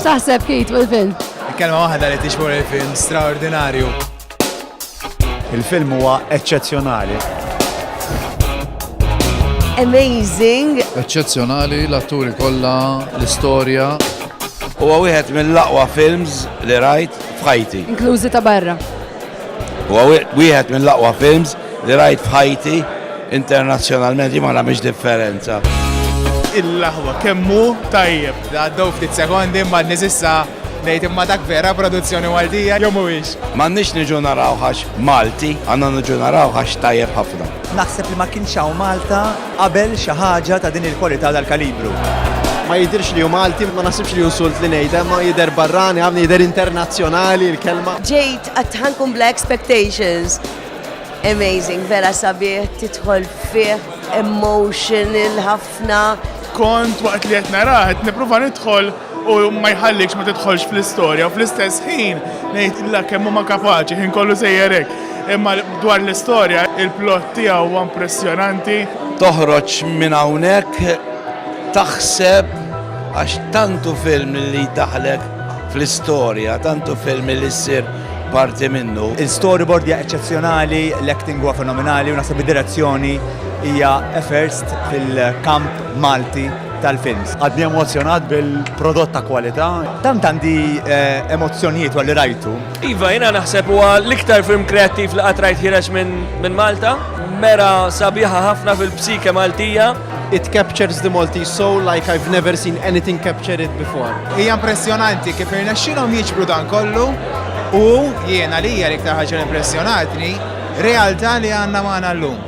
X'taħseb kif jitwu l-film? Kelma waħda li tixmur il-film straordinarju. Il-film huwa eċċezzjonali. Amazing! Eċċezzjonali l-atturi kollha, l-istorja. Huwa wieħed mill-aqwa films li rajt f'ħajti. Inklużi ta' barra. Huwa wieħed mill-aqwa films li rajt f'ħajti, internazzjonalment jien ma nagħmilx differenza. Il-laħwa kemm hu tajjeb. Għaddew ftit sekondi ma nisissa ngħid imma dak vera produzzjoni Maltija jew mhuwiex. M'għandniex niġu naraw ħax Malti, għandna niġu naraw ħax tajjeb ħafna. Naħseb li ma kienx hawn Malta. qabel xi ħaġa ta' din il-kwalità u dal-kalibru. Ma jidhirx li hu Malti, ma naħsibx li hu insult li ngħidha, imma jidher barrani ħafna, jidher internazzjonali l-kelma. Ġejt għat-Tħankum bla expectations. Amazing, vera sabiħ, tidħol fih, emotional ħafna. Kont waqt li qed narah qed nipprova nidħol u ma jħallikx ma tidħolx fl-istorja u fl-istess ħin ngħidilha kemm huma kapaċi ħin kollu sejjer hekk. Imma dwar l-istorja il-plot tiegħu huwa impressjonanti. Toħroġ minn hawnhekk taħseb għax tantu film li jdaħlek fl-istorja, tantu film li ssir parti minnu. Il-storyboard hija eċċezzjonali, l-acting huwa fenomenali u naħseb id-direzzjoni hija first fil-kamp Malti. tal-films. Għadni emozjonat bil-prodott ta' kwalità. Tant għandi eh, emozzjonijiet għalli rajtu. Iva, jina naħseb huwa l-iktar film kreattiv li qatt rajt ħireġ minn Malta. Mera sabiħa ħafna fil-psike Maltija. It captures the Maltese soul like I've never seen anything capture it before. Hija impressjonanti kif irnexxilhom jiġbru dan kollu u jiena li hija l-iktar ħaġa impressjonatni realtà li għandna magħna llum.